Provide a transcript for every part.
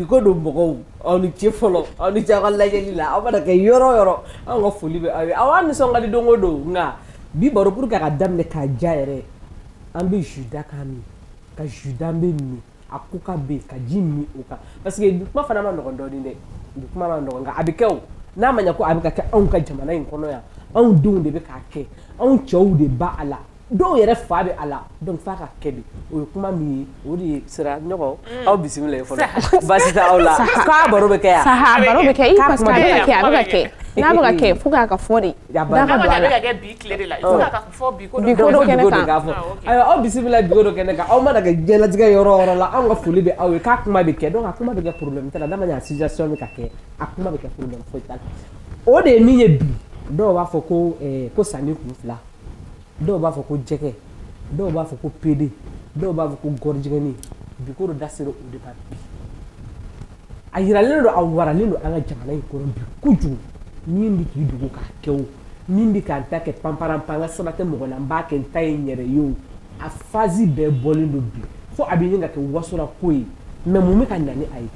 bi ko dɔ mɔgɔw aw ni ce fɔlɔ aw ni ce aw ka lajɛli la aw mana kɛ yɔrɔ o yɔrɔ anw ka foli bɛ aw ye aw an nisɔn ka di don o don nka bi baro pour que a ka daminɛ k'a diya yɛrɛ an bɛ jus da k'a min ka jus d'an bɛ min a ko ka bɛ ka ji min o kan parce que kuma fana man nɔgɔ dɔɔnin dɛ kuma man nɔgɔ nka a bɛ kɛ o n'a ma ɲɛ ko a bɛ ka kɛ anw ka jamana in kɔnɔ yan anw denw de bɛ k'a kɛ anw cɛw de b'a la dɔw yɛrɛ fa bɛ a la dɔn fa ka kɛ o ye kuma min ye o de ye sira ɲɔgɔn mm. aw bisimila ye fɔlɔ baasi t' aw la k'a baro bɛ kɛ yan baro bɛ kɛ parce que a bɛ kɛ n'a bɛ kɛ faut qu'a ka fɔ de fɔ bi ko dɔ kɛnɛ kan ah, ayiwa aw bisimila bi ko dɔ kɛnɛ kan aw mana kɛ diɲɛlatigɛ yɔrɔ o yɔrɔ la anw ka foli bɛ aw ye k'a kuma bɛ kɛ donc a kuma bɛ kɛ problème t'a la n'a ma ɲɛ a situation bɛ ka kɛ a kuma bɛ kɛ problème foyi t'a la o de ye min ye bi dɔw b'a fɔ ko eh, ko saninkunfila dɔw b'a fɔ ko jɛgɛ dɔw b'a fɔ ko pédé dɔw b'a fɔ ko gɔrijigɛni bi ko dɔ da sera o de ma bi a yiralen don a waralen don an ka jamana in kɔnɔ bi kojugu min bɛ k'i dogo k'a kɛ o min bɛ k'a ta kɛ panpara pan ka saba tɛ mɔgɔ la n b'a kɛ n ta ye n yɛrɛ ye o a fazi bɛɛ bɔlen don bi fo a bɛ ɲini ka kɛ wasora ko ye mais mun bɛ ka na n'a ye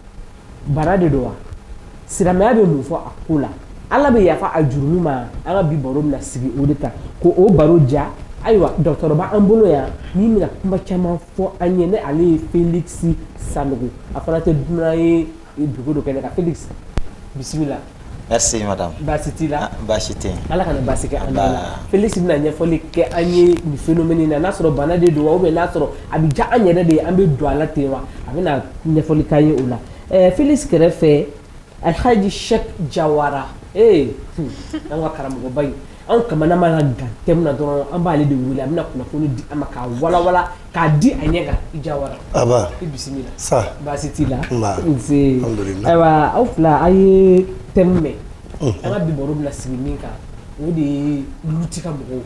bana de don wa silamɛya bɛ mun fɔ a ko la ala bɛ yafa a jurumu ma an ka bi baro na sigi o de ta ko o baro ja ayiwa docteur b'an bolo yan min bɛna kuma caman fɔ an ɲɛ na ale ye Felix Sanogo a fana tɛ dunan ye bi ko dɔ kɛnɛ kan Felix bisimila merci madame baasi t'i la ah, baasi tɛ ala kana baasi kɛ an la Felix bɛna ɲɛfɔli kɛ an ye nin phénomène na n'a sɔrɔ bana de don wa ou bien n'a sɔrɔ a bɛ diya an yɛrɛ de ye an bɛ don a la ten wa a bɛna ɲɛfɔli k'an ye o la ɛɛ Felix kɛrɛfɛ Alhaji Sɛk Jawara ee an ka karamɔgɔba in anw kamana mana gan thème na dɔrɔn an b'ale de wele a bɛna kunnafoni di an ma k'a walawala k'a di a ɲɛ kan i jawara aba i bisimila saha baasi t'i la Nba. nse Alhamdulillah. ayiwa aw fila a ye thème mɛn an ka bi baro bɛna sigi min kan o de ye Luti ka mɔgɔw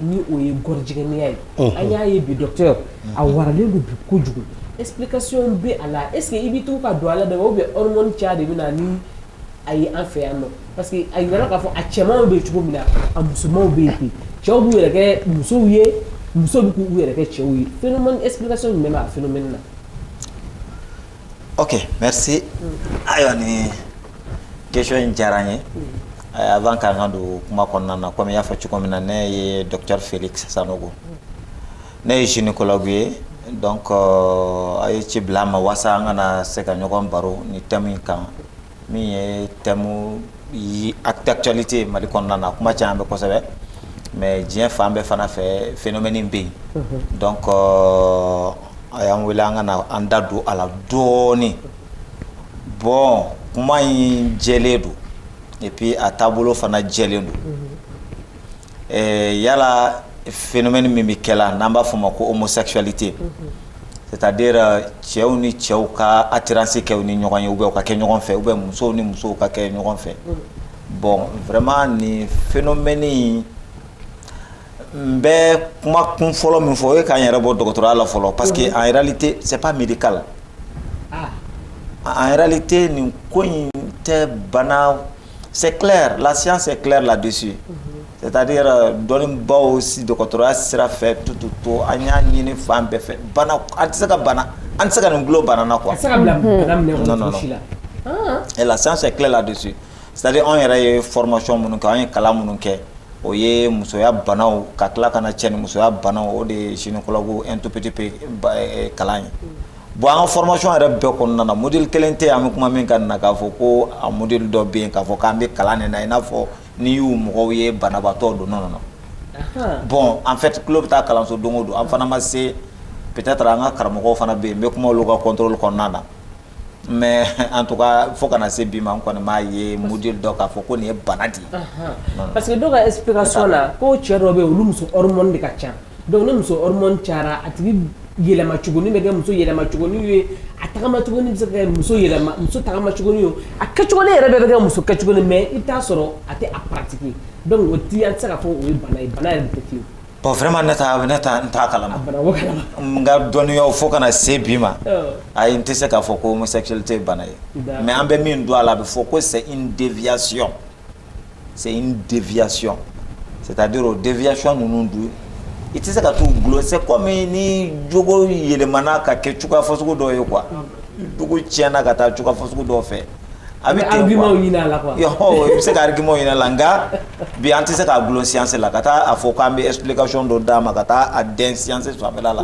ni o ye gɔrijigɛniya ye an y'a ye bi docteur a waralen don bi kojugu explication bɛ a la est ce que i b'i tugu ka don a la de ou bien hormone caya de bɛ na ni a ye an fɛ yan nɔ parce que a jirala k'a fɔ a cɛmanw bɛ cogo min na a musomanw bɛ yen cɛw b'u yɛrɛ kɛ musow ye musow bɛ k'u yɛrɛ kɛ cɛw ye phénomène explication jumɛn b'a phénomène na. ok merci ayiwa nin question in diyara n ye avant k'an ka don kuma kɔnɔna na comme i y'a fɔ cogo min na ne ye docteur Felix Sanogo ne ye gynécologue ye donc euh, a ye ci bila n ma walasa an ka na se ka ɲɔgɔn baro nin thème in kan. min ye thème d'actualité mali kɔnɔna na kuma caman bɛ kosɛbɛ mais diɲɛ fan bɛɛ fana fɛ phénomène in bɛ yen donc a y'an wele an ka na an da don a la dɔɔnin bon kuma in jɛlen don et puis a taabolo fana jɛlen don Ɛɛ yala phénomène min bɛ kɛ la n'an b'a fɔ o ma ko homosexualité c'est à dire cɛw ni cɛw ka attirance kɛ u ni ɲɔgɔn ye ou bien u ka kɛ ɲɔgɔn fɛ ou bien musow ni musow ka kɛ ɲɔgɔn fɛ bon vraiment nin phénomène in n bɛ kuma kun fɔlɔ min fɔ o ye ka n yɛrɛ bɔ dɔgɔtɔrɔya la fɔlɔ parce que en réalité c'est pas médical en réalité nin ko in tɛ bana C'est clair, la science est claire là-dessus. Mm -hmm. C'est-à-dire euh, dɔnnibaaw si dɔgɔtɔrɔya sira fɛ tout tout tout an y'a ɲini fan bɛɛ fɛ bana an tɛ se ka bana an tɛ se ka nin gulon bana na quoi. A tɛ se ka bila mhm. bana minɛ kɔnɔ cogo si la. Et la science est claire là-dessus. C'est-à-dire anw yɛrɛ ye formation minnu kɛ an ye kalan minnu kɛ o ye musoya banaw ka tila ka na cɛ ni musoya banaw o de ye gynécologue un tout petit peu eh, kalan ye. Mm. Bon an ka formation yɛrɛ bɛɛ kɔnɔna na module kelen tɛ yen an bɛ kuma min kan na k'a fɔ ko a module dɔ bɛ yen k'a fɔ k'an bɛ kalan nin na i n'a fɔ n'i y'u mɔgɔw ye banabaatɔ don non non non bon en fait tulo bɛ taa kalanso don o don an fana ma se peut être an ka karamɔgɔw fana bɛ yen n bɛ kuma olu ka contrôle kɔnɔna na mais en tout cas fo ka na se bi ma n kɔni m'a ye module dɔ k'a fɔ ko nin ye bana de ye parce que dɔw ka explication na ko cɛ dɔw bɛ yen olu muso hormone de ka ca Donc ni muso hormone cayara a tigi yɛlɛma cogonin bɛ kɛ muso yɛlɛma cogonin ye a tagama cogonin bɛ se ka kɛ muso yɛlɛma muso tagama cogo ye a kɛ cogonin yɛrɛ bɛ kɛ muso kɛ cogo mais i t'a sɔrɔ a tɛ a pratiquer donc o de an tɛ se ka fɔ o ye bana ye bana yɛrɛ tɛ fewu bon vraiment ne t'a ne t'a n t'a kalama n ka dɔnniya fo ka na se bi ma ayi n tɛ se k'a fɔ ko homosexualité ye bana ye mais an bɛ min dɔn a la a bɛ fɔ ko c'est une déviation c'est une déviation c'est à dire o déviation ninnu dun i tɛ se ka t'u gulon c'est comme ni jogo yɛlɛmana ka kɛ cogoya fasugu dɔ ye quoi jogo tiɲɛna ka taa cogoya fasugu dɔ fɛ a bɛ i bɛ se ka argument ɲini a la nka bi an tɛ se k'a gulon science la ka taa a fɔ k'an bɛ explication dɔ d'a ma ka taa a dɛn science su a bɛ la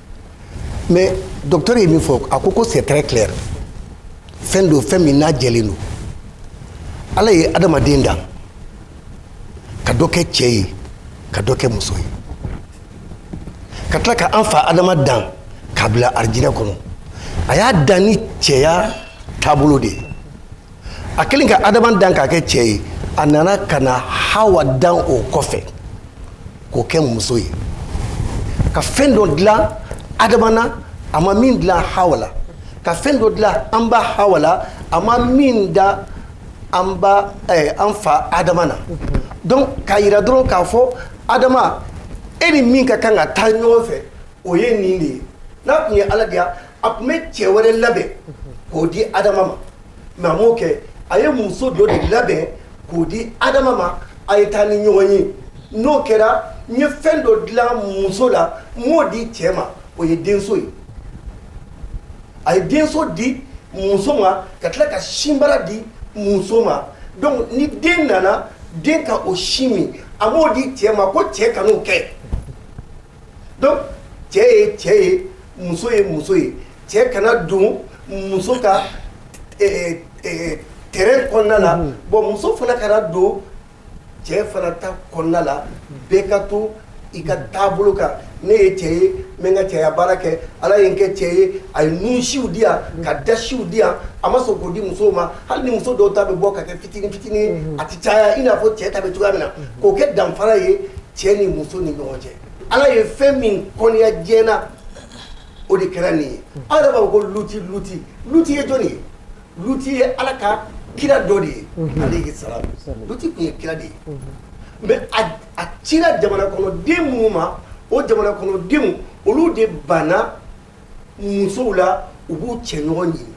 mais docteur ye min fɔ a ko ko c'est très clair fɛn don fɛn min n'a jɛlen don ala ye adamaden dan ka dɔ kɛ cɛ ye ka dɔ kɛ muso ye ka tila ka an fa adama dan k'a bila arijinɛ kɔnɔ a y'a dan ni cɛya taabolo de ye a kɛlen ka adama dan k'a kɛ cɛ ye a nana ka na hawa dan o kɔfɛ k'o kɛ muso ye ka fɛn dɔ dilan adama na a ma min dilan hawa la ka fɛn dɔ dilan an ba hawa la a ma min da an ba eh, an fa adama na donc k'a yira dɔrɔn k'a fɔ adama e ni min ka kan ka taa ɲɔgɔn fɛ o ye nin de ye n'a tun ye ala diya a tun bɛ cɛ wɛrɛ labɛn k'o di adama ma mais a m'o kɛ a ye muso dɔ de labɛn k'o di adama ma a ye taa ni ɲɔgɔn ye n'o kɛra n ye fɛn dɔ dilan muso la m'o di cɛ ma o ye denso ye a ye denso di muso ma ka tila ka sinbara di muso ma donc ni den nana den ka o sin min a m'o di cɛ ma ko cɛ kan'o kɛ Donc cɛ ye cɛ ye muso ye muso ye cɛ kana don muso ka terrain kɔnɔna la bon muso fana kana don cɛ fana ta kɔnɔna la bɛɛ ka to i ka taabolo kan ne ye cɛ ye n bɛ n ka cɛya baara kɛ ala ye n kɛ cɛ ye a ye nunsiw di yan ka dasiw di yan a ma sɔn k'o di muso ma hali ni muso dɔw ta bɛ bɔ ka kɛ fitinin fitinin a tɛ caya i n'a fɔ cɛ ta bɛ cogoya min na k'o kɛ danfara ye cɛ ni muso ni ɲɔgɔn cɛ ala ye fɛn min kɔniya diɲɛ na o de kɛra nin ye aw yɛrɛ b'a fɔ ko luti luti luti ye jɔni ye luti ye ala ka kira dɔ de ye mhm. aleyi salam luti tun ye kira de ye mhm. mais a cira jamana kɔnɔ den minnu ma o jamana kɔnɔ denw olu de banna musow la u b'u cɛ ɲɔgɔn ɲini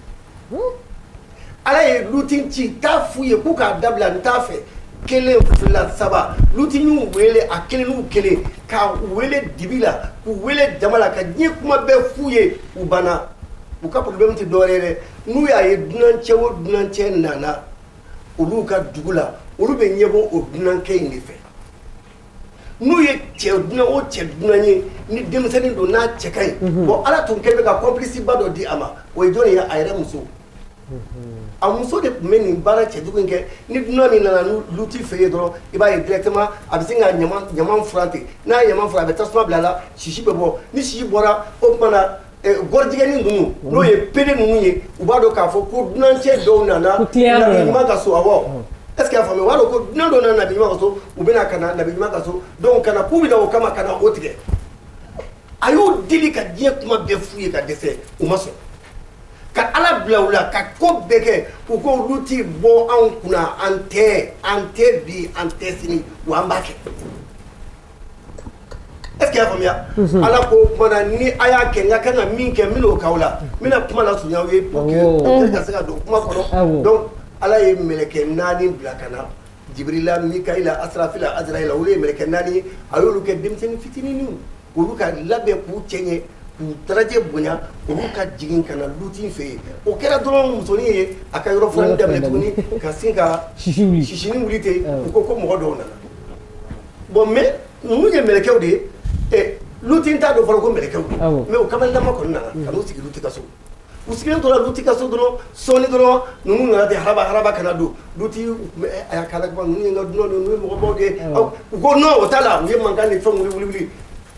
ala ye luti ci t'a f'u ye k'u k'a dabila n t'a fɛ kelen fila saba luti y'u wele a kelen n'u kelen k'u wele dibi la k'u wele jama la ka diɲɛ kuma bɛɛ f'u ye u banna u ka problème tɛ dɔwɛrɛ ye dɛ n'u y'a ye dunancɛ o dunancɛ nana olu ka dugu la olu bɛ ɲɛbɔ o dunankɛ in de fɛ n'u ye cɛ dunan o cɛ dunan ye ni denmisɛnnin don n'a cɛ ka ɲi unhun bon Ala tun kɛlen bɛ ka complice ba dɔ di a ma o ye jɔni ye a yɛrɛ muso unhun a muso de tun bɛ nin baara cɛjugu in kɛ ni dunan min nana lu luti fɛ yen dɔrɔn i b'a ye directement a bɛ sin ka ɲaman ɲaman furan ten n'a ye ɲaman furan a bɛ tasuma bila a la sisi bɛ bɔ ni sisi bɔra o tuma na Gɔrijigɛni ninnu n'o ye pédé ninnu ye u b'a dɔn k'a fɔ ko dunankɛ dɔw nana nabi ɲuman ka so est-ce que a faamuya u b'a dɔn ko dunan dɔ nana nabi ɲuman ka so u bɛna ka na nabi ɲuman ka so ka na k'u bɛ na o kama ka na o tigɛ a y'u deli ka diɲɛ kuma bɛɛ f'u ye ka dɛsɛ u ma sɔn ka ala bila u la ka ko bɛɛ kɛ u ko luti bɔ anw kunna an tɛ an tɛ bi an tɛ sini wa an b'a kɛ Est ce que y'a faamuya ala ko ni a y'a kɛ n ka kan ka min kɛ n bɛn'o k'aw la n bɛna kuma lasurunya aw ye ka se ka don kuma kɔnɔ ala ye mɛlɛkɛ naani bila ka na jibirila mikayila asirafila azirayila olu ye mɛlɛkɛ naani ye a y'olu kɛ denmisɛnnin fitininw olu ka labɛn k'u cɛ ɲɛ k'u daraja bonya olu ka jigin ka na luti fɛ yen o kɛra dɔrɔn musonin ye a ka yɔrɔ fila da tuguni ka sin ka sisinin wuli ten u ko ko mɔgɔ dɔw nana Bon mais ninnu ye mɛlɛkɛw de ye, ɛ Luti n t'a dɔn fɔlɔ ko mɛlɛkɛw don, awɔ, mais u kamalenlama kɔni nana ka n'u sigi Luti ka so, u sigilen tora Luti ka so dɔrɔn sɔɔnin dɔrɔn ninnu nana ten haraba haraba ka na don, Luti u tun bɛ ɛ a y'a kɛ Ala kama ninnu ye n ka dunanw de ye, ninnu ye mɔgɔbaw de ye, awɔ, u ko non o t'a la u ye mankan ni fɛnw wuli wuli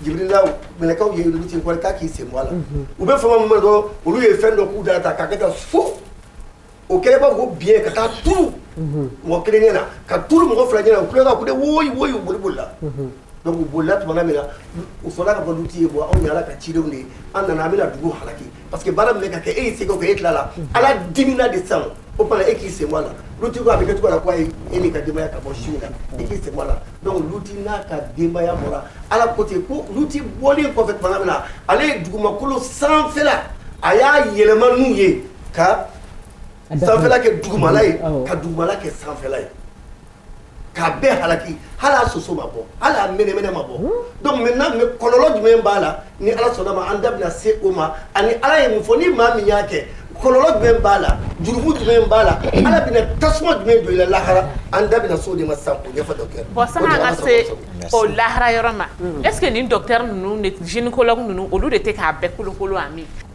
jibirila mɛlɛkɛw ye Luti kɔrɔ k'a k'i sen bɔ a la, unhun, u bɛ fama min ma dɔrɔn olu ye fɛn dɔ k'u da la tan k'a kɛ tan fu o kɛlen b'a fɔ ko biɲɛ ka taa turu mɔgɔ kelen ɲɛ na ka turu mɔgɔ fila ɲɛ na u tola ka kule woyi woyi u boli bolila donc u bolila tumana min na u fɔla k'a fɔ Luti ye bon anw ye Ala ka cidenw de ye an nana an bɛna dugu halaki parce que baara min bɛ ka kɛ e y'i seko kɛ e tilala Ala dimina de sisan o tuma na e k'i sen bɔ a la Luti ko a bɛ kɛ cogo la ko ayi e n'i ka denbaya ka bɔ su in na i k'i sen bɔ a la donc Luti n'a ka denbaya bɔra Ala ko ten ko Luti bɔlen kɔfɛ tumana min na ale ye dugumakolo sanfɛla a y'a yɛlɛma n'u ye ka sanfɛla kɛ dugumala ye ka dugumala kɛ sanfɛla ye k'a bɛɛ halaki hali a soso ma bɔ hali a mɛnɛmɛnɛ ma bɔ donc maintenant mais kɔlɔlɔ jumɛn b'a la ni Ala sɔnn'a ma an da bɛna se o ma ani Ala ye mun fɔ ni maa min y'a kɛ kɔlɔlɔ jumɛn b'a la jurumu jumɛn b'a la Ala bɛna tasuma jumɛn don i la lahara an da bɛna se o de ma sisan k'o ɲɛfɔ docteur bon sani an ka se o lahara yɔrɔ ma est ce que nin docteur ninnu ni gynécologue ninnu olu de tɛ k'a bɛɛ kolokolo wa min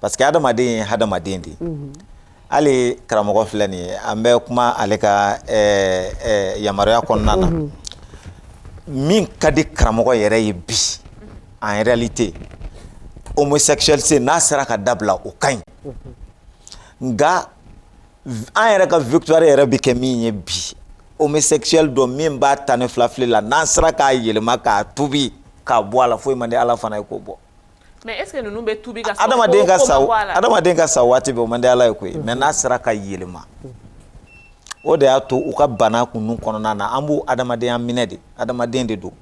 parce que hadamaden ye hadamaden de ye mhm. hali karamɔgɔ filɛ nin ye an bɛ kuma ale ka eh, eh, yamaruya kɔnɔna na mhm. min ka di karamɔgɔ yɛrɛ ye bi en réalité homosexualité n'a sera ka dabila o ka ɲi mhm. nka an yɛrɛ ka victoire yɛrɛ bɛ kɛ min ye bi homosexuel dɔ min b'a ta ni filafili la n'an sera k'a yɛlɛma k'a tubi k'a bɔ a la foyi man di ala fana ye k'o bɔ mais est ce que ninnu bɛ tubi ka sa adamaden ka sa adamaden ka sa waati bɛɛ o man di ala ye koyi mais n'a sera ka yɛlɛma o de y'a to u ka bana ko ninnu kɔnɔna na an b'u adamadenya minɛ de adamaden de don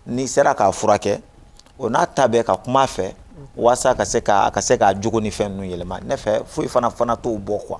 n'i sera k'a furakɛ o n'a ta bɛɛ ka kuma a fɛ walasa ka se ka a ka se k'a jogo ni fɛn ninnu yɛlɛma ne fɛ foyi fana fana t'o bɔ quoi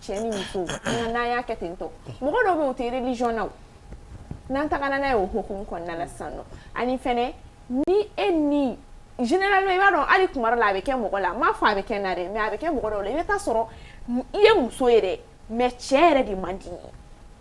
cɛ ni muso nka n'an y'a kɛ ten tɔ mɔgɔ dɔw bɛ u tɛ religion na o n'an tagara n'a ye o hukumu kɔnɔna la sisan nɔ ani fɛnɛ ni e ni généralement i b'a dɔn hali tuma dɔ la a bɛ kɛ mɔgɔ la n m'a fɔ a bɛ kɛ n na dɛ mais a bɛ kɛ mɔgɔ dɔw la i bɛ taa sɔrɔ i ye muso ye dɛ mais cɛ yɛrɛ de man di i ye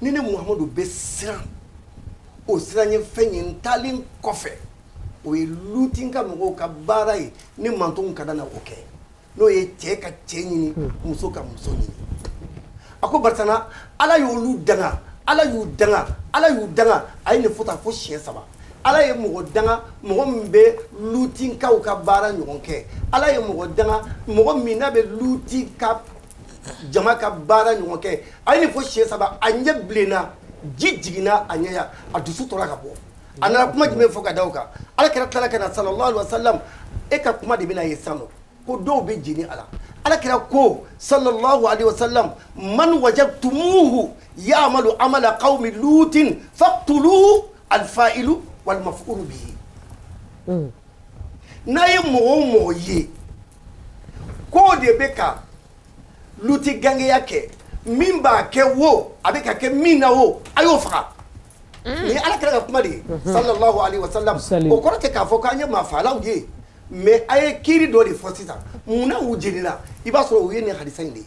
ni ne mahamadu bɛ siran o siranɲɛ fɛn ye n taalen kɔfɛ o ye luti ka mɔgɔw ka baara ye ni mantɔnw ka na o kɛ n'o ye cɛ ka cɛ ɲini muso ka muso ɲini a ko barisa ala y' olu danga ala y'u danga ala y'u danga a ye nin fɔ taa fo siɲɛ saba ala ye mɔgɔ danga mɔgɔ min bɛ lutinkaw ka baara ɲɔgɔn kɛ ala ye mɔgɔ danga mɔgɔ min n'a bɛ luti ka jama ka baara ɲɔgɔn kɛ a ye nin fɔ siɲɛ saba a ɲɛ bilenna ji jiginna a ɲɛ la a dusu tora ka bɔ a nana kuma jumɛn fɔ ka da o kan ala kira tilala ka na salalahu aleyihi wa salam e ka kuma de bɛna ye sisan nɔ ko dɔw bɛ jeni a la ala kira ko salalahu aleyihi wa salam man wajadtumuhu ya'malu amala qawmi lutin faqtuluhu alfa'ilu walmaf'ulu bihi n'a ye mɔgɔ o mɔgɔ ye Ko de bɛ ka luti gangeya kɛ min b'a kɛ wo a bɛ ka kɛ min na wo a y'o faga nin ye ala kira ka kuma de ye salalahu aleyihi wa salam o kɔrɔ tɛ k'a fɔ k'an ye maa faalaw ye mais a ye kiiri dɔ de fɔ sisan munna u jenina i b'a sɔrɔ u ye nin hadisa in de ye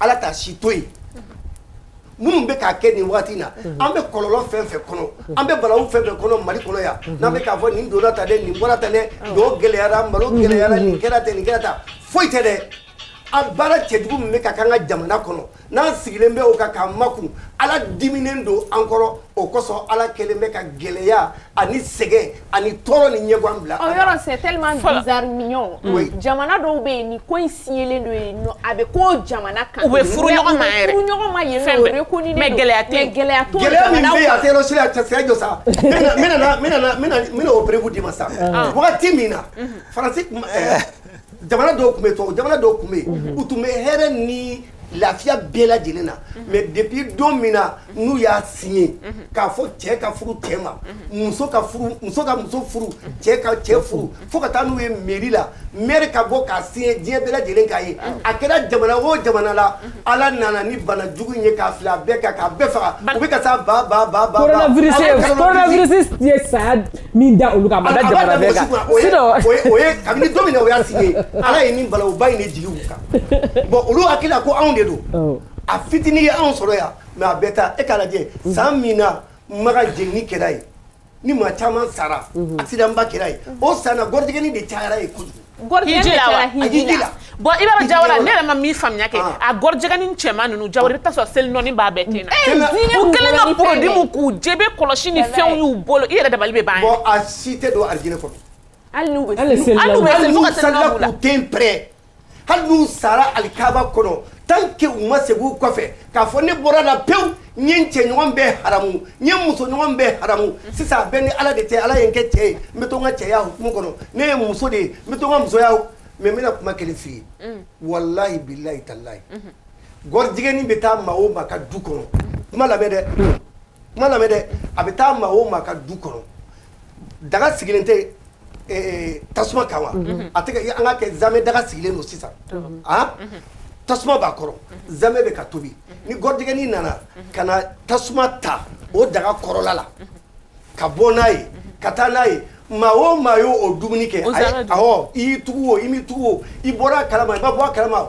ala t'a si to yen minnu bɛ k'a kɛ nin waati na an bɛ kɔlɔlɔ fɛn fɛn kɔnɔ an bɛ balawu fɛn fɛn kɔnɔ mali kɔnɔ yan n'an bɛ k'a fɔ nin donna tan dɛ nin bɔra tan dɛ dɔw gɛlɛyara malo gɛlɛyara nin kɛra ten nin kɛra tan foyi tɛ dɛ a baara cɛjugu min bɛ ka k'an ka jamana kɔnɔ n'an sigilen bɛ o kan k'an makun ala diminen don an kɔrɔ o kosɔn ala kɛlen bɛ ka gɛlɛya ani sɛgɛn ani tɔɔrɔ ni ɲɛgan bila jamana dɔw bɛ yen ni ko in sigilen don yen a bɛ ko jamana kan u bɛ furu ɲɔgɔn ma gɛlɛya gɛlɛya n bɛna o preuve d'i ma sa wagati min na faransi jamana dɔw tun bɛ to jamana dɔw tun bɛ yen u tun bɛ hɛrɛ ni lafiya bɛɛ lajɛlen na mais depuis don min na n'u y'a signé k'a fɔ cɛ ka furu cɛ ma muso ka muso furu cɛ ka cɛ furu fo ka taa n'u ye mairie la maire ka bɔ k'a signé diɲɛ bɛɛ lajɛlen k'a ye a kɛra jamana o jamana la ala nana ni bana jugu ye k'a fili bɛɛ kan k'a bɛɛ faga u bɛ ka sa ba coronavirus saya min da olu kan kabini don min o y'a signé ala ye nin balawuba in de jigin u kan bon olu hakili la ko anw de don a fitinin ye anw sɔrɔ yan mais a bɛ taa e k'a lajɛ san min na makan jenini kɛra ye ni maa caman sara accident ba kɛra ye o san na gɔrɔjigɛni de cayara ye kojugu bon i b'a jawara ne yɛrɛ ma min faamuya kɛ a gɔrɔjigɛni cɛman ninnu jawara i bɛ taa sɔrɔ seli nɔnin b'a bɛɛ ten na u kɛlen ka produit mun k'u jɛ bɛ kɔlɔsi ni fɛnw y'u bolo i yɛrɛ dabali bɛ ban a si tɛ don alijinɛ kɔnɔ hali n'u bɛ seli den pɛ hali n'u sara alikaba kɔnɔ tant que u ma segin u kɔfɛ k'a fɔ ne bɔra la pewu n ye n cɛɲɔgɔn bɛɛ haramu n ye n musoɲɔgɔn bɛɛ haramu sisan a bɛ n ni ala de cɛ ala ye n kɛ cɛ ye n bɛ to n ka cɛya hukumu kɔnɔ ne ye muso de ye n bɛ to n ka musoya mais n bɛna kuma kelen f'i ye mm. walahi bilahi talahi mm-hmm. gɔrijigɛni bɛ taa maa o maa ka du kɔnɔ kuma lamɛn dɛ kuma lamɛn dɛ a bɛ taa maa o maa ka du kɔnɔ daga sigilen tɛ tasuma kan wa a tɛ an k'a kɛ zamɛ daga sigilen don sisan tasuma b'a kɔrɔ zamɛ bɛ ka tobi ni gɔrijigɛni nana ka na tasuma ta o daga kɔrɔla la ka bɔ n'a ye ka taa n'a ye maa o maa y'o dumuni kɛ awɔ i y'i tugu o i m'i tugu o i bɔra a kalama i ma bɔ a kalama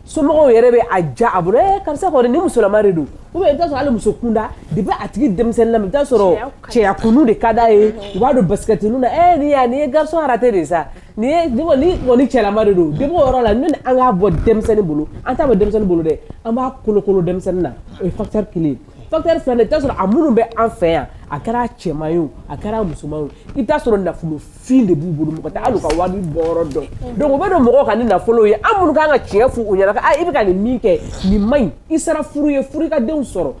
somɔgɔw yɛrɛ bɛ a ja a bolo eh, karisa kɔni ni musolama de don ou bien i bɛ t'a sɔrɔ hali muso kunda depuis a tigi denmisɛnnin lama i bɛ t'a sɔrɔ cɛya ko ninnu de ka d'a ye u b'a don basikɛti ninnu na eh nin ya nin ye garçon raté de sa nin ye nin kɔni nin kɔni cɛlama de don depuis o yɔrɔ la ni an k'a bɔ denmisɛnnin bolo an t'a bɔ denmisɛnnin bolo dɛ an b'a kolokolo denmisɛnnin na o ye facteur kelen ye facteur filanan i bɛ t'a sɔrɔ a minnu bɛ an fɛ yan a kɛra cɛman ye o a kɛra musoman ye o i bɛ t'a sɔrɔ nafolofin de b'u bolo mɔgɔ tɛ hali u ka wari bɔyɔrɔ dɔn donc u bɛ don mɔgɔw kan ni nafolo ye an minnu ka kan ka tiɲɛ f'u ɲɛna ko i bɛ ka nin min kɛ nin man ɲi i sera furu ye furu i ka denw sɔrɔ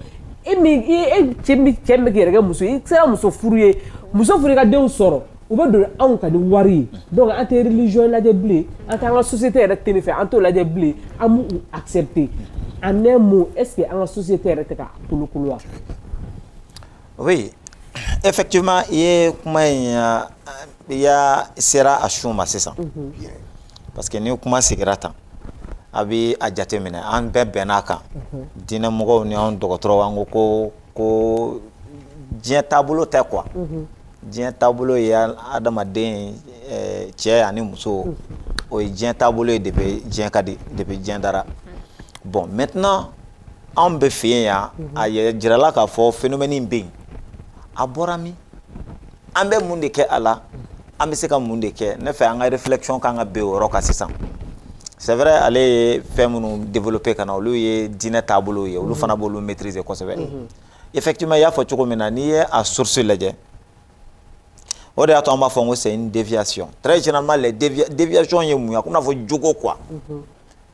e min cɛ min bɛ k'i yɛrɛ kɛ muso ye i sera muso furu ye muso furu i ka denw sɔrɔ u bɛ don anw kan ni wari ye donc an tɛ religion lajɛ bilen an t'an ka société yɛrɛ tɛ nin fɛ an t'o lajɛ bilen an b'u accepter en un mot est-ce que an ka société yɛrɛ tɛ ka kolokolo wa. oui effectivement i ye kuma in ah, i y'a sera a sun ma sisan mhm. parce que ni kuma sigira tan a bɛ a jateminɛ an bɛɛ bɛnn'a kan mhm. diinɛmɔgɔw ni anw dɔgɔtɔrɔw an ko ko ko diɲɛ taabolo tɛ quoi diɲɛ taabolo ye adamaden eh, cɛ ani muso o ye diɲɛ taabolo ye depuis diɲɛ ka di depuis diɲɛ dara bon maintenant anw bɛ fɛ yan a yɛrɛ jirala k'a fɔ phénomène in bɛ yen a bɔra min an bɛ mun de kɛ a la an bɛ se ka mun de kɛ ne fɛ an ka réflexion kan ka bɛn o yɔrɔ kan sisan c'est vrai ale ye fɛn minnu développer ka na olu ye diinɛ taabolow ye olu fana b'olu maîtriser kosɛbɛ mhm. effectivement i y'a fɔ cogo min na n'i ye a source lajɛ o de y'a to an b'a fɔ ko c'est une déviation très généralement les déviations ye mun ye a komi n'a fɔ jogo quoi mhm.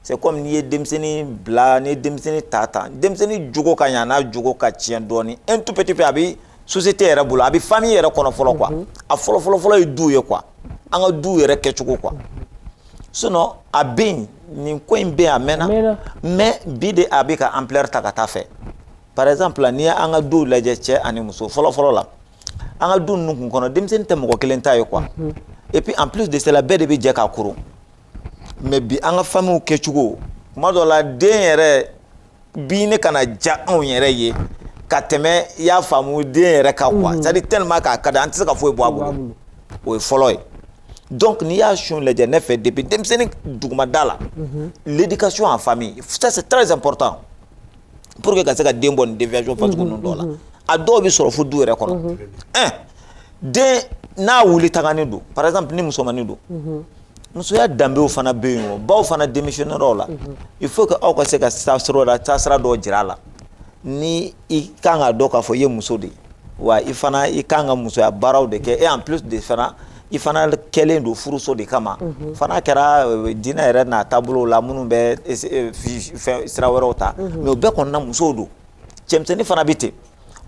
c'est comme n'i ye denmisɛnnin bila n'i ye denmisɛnnin ta ta denmisɛnnin jogo ka ɲa n'a jogo ka tiɲɛ dɔɔni un tout petit peu a bɛ société yɛrɛ bolo a bɛ famille yɛrɛ kɔnɔ fɔlɔ quoi mhm. a fɔlɔ fɔlɔ fɔlɔ ye du ye quoi an ka du yɛrɛ kɛcogo quoi sinon a bɛ yen nin ko in bɛ yen a mɛnna mais bi de a bɛ ka ampleur ta ka taa a fɛ par exemple n'i ye an ka duw lajɛ cɛ ani muso fɔlɔ fɔlɔ la an ka du ninnu kun kɔnɔ denmisɛnnin tɛ mɔgɔ kelen ta ye quoi mhm. et puis en plus de cela bɛɛ de bɛ jɛ k'a koron. mais bi an ka famille kɛcogo kuma dɔ la den yɛrɛ bɛ na ka na diya anw yɛrɛ ye ka tɛmɛ i y'a faamu den yɛrɛ ka quoi mm. c'est à dire tellement k'a ka di an tɛ se ka foyi bɔ a bolo o ye fɔlɔ ye donc n'i y'a sun lajɛ ne fɛ depuis denmisɛnnin dugumada la mhm. l'éducation en famille ça c'est très important pour que ka se ka den bɔ nin déviation fasugu mhm, ninnu dɔw la mhm. a dɔw bɛ sɔrɔ fo du yɛrɛ kɔnɔ un den n'a wuli tagani don par exemple ni musomanin don musoya danbew fana bɛ yen o baw fana démissionnaire la mhm. il faut que aw ka se ka taasira la taasira dɔ jira a la ni i kan k'a dɔn k'a fɔ i ye muso de ye wa i fana i kan ka musoya baaraw de kɛ et en plus de fana i fana kɛlen don furuso de kama mhm. fana kɛra euh, diinɛ yɛrɛ n'a taabolo la minnu bɛ euh, sira wɛrɛw ta mhm. mais o bɛɛ kɔnɔna musow don cɛmisɛnnin fana bɛ ten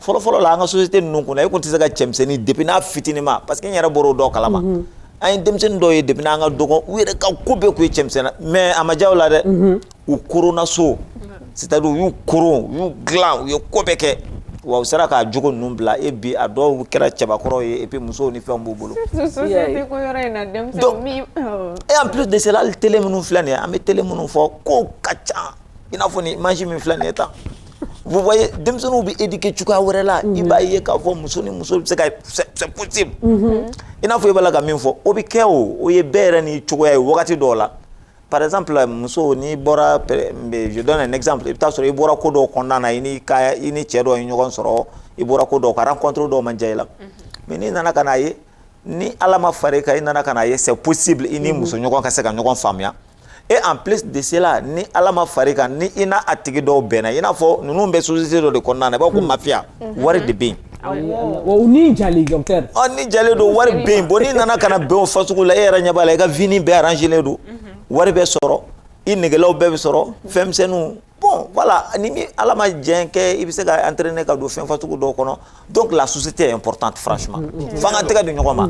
fɔlɔfɔlɔ la an ka société ninnu kɔnɔ e tun tɛ se ka cɛmisɛnnin depuis n'a fitinima parce que n yɛrɛ bɔr'o dɔ kalama mhm. an ye denmisɛnnin dɔw ye depuis n'an ka dɔgɔn u yɛrɛ ka ko bɛɛ tun ye cɛmisɛnna mais a ma diya u la dɛ mhm. u koronna so c'est à dire u y'u koron u y'u dilan u ye ko bɛɛ kɛ wa u sera k'a jogo ninnu bila et bi a dɔw kɛra cɛbakɔrɔw ye et puis musow ni fɛnw b'u bolo donc et en plus de cela hali télé minnu filɛ nin ye an bɛ télé minnu fɔ kow ka ca i n'a fɔ ni image min filɛ nin ye tan vous voyez denmisɛnninw bɛ éduquer cogoya wɛrɛ la i b'a ye k'a fɔ muso ni muso bɛ se ka c'est possible i n'a fɔ i b'a la ka min fɔ o bɛ kɛ o o ye bɛɛ yɛrɛ ni cogoya ye wagati dɔw la par exemple muso n'i bɔra je donne un exemple i bɛ taa sɔrɔ i bɔra ko dɔw kɔnɔna na i ni ka i ni cɛ dɔ ye ɲɔgɔn sɔrɔ i bɔra ko dɔw ka rencontre dɔw ma diya i la mais n'i nana ka n'a ye ni Ala ma far'i kan i nana ka n'a ye c'est possible i ni muso ɲɔgɔn ka se ka ɲɔgɔn faamuya et en plus de cela ni ala ma far'i kan ni i n'a tigi dɔw bɛnna i n'a fɔ ninnu bɛ société dɔ de kɔnɔna na i b'a ko mafia wari de bɛ yen o ni jalen docteur ɔ ni jalen don wari bɛ yen bon n'i nana ka na bɛn o fasugu la e yɛrɛ ɲɛ b'a la i ka vie nin bɛɛ arrangelen don wari bɛ sɔrɔ i negelaw bɛɛ bɛ sɔrɔ fɛnmisɛnninw bon voilà ni min ala ma jɛn kɛ i bɛ se ka entraîner ka don fɛn fasugu dɔw kɔnɔ donc la société est importante franchement mm, mm, mm. f'an k'an tɛgɛ di ɲɔgɔn ma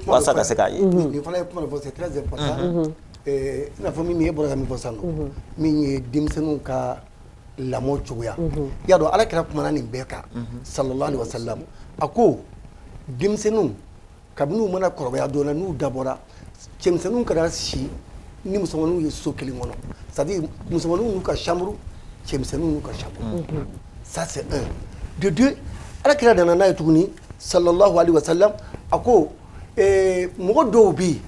walasa ka se k'a ye nin fana ye kuma dɔ fɔ c'est très important mm-hmm. eh, i n'a fɔ min ye bɔra ka min fɔ sisan nɔ mm-hmm. min ye denmisɛnninw ka lamɔ cogoya mm-hmm. i y'a dɔn ala kira kumana nin bɛɛ kan sallallahu alaihi wa sallam a ko denmisɛnninw kabini u mana kɔrɔbaya dɔɔnin n'u dabɔra cɛmisɛnninw kana si ni musomanninw ye so kelen kɔnɔ c'est à dire musomanninw n'u ka chambre cɛmisɛnninw n'u ka chambre unhun ça c'est un de deux ala kira nana n'a ye tuguni sallallahu alaihi wa sallam a ko ee, mɔgɔ dɔw bɛ yen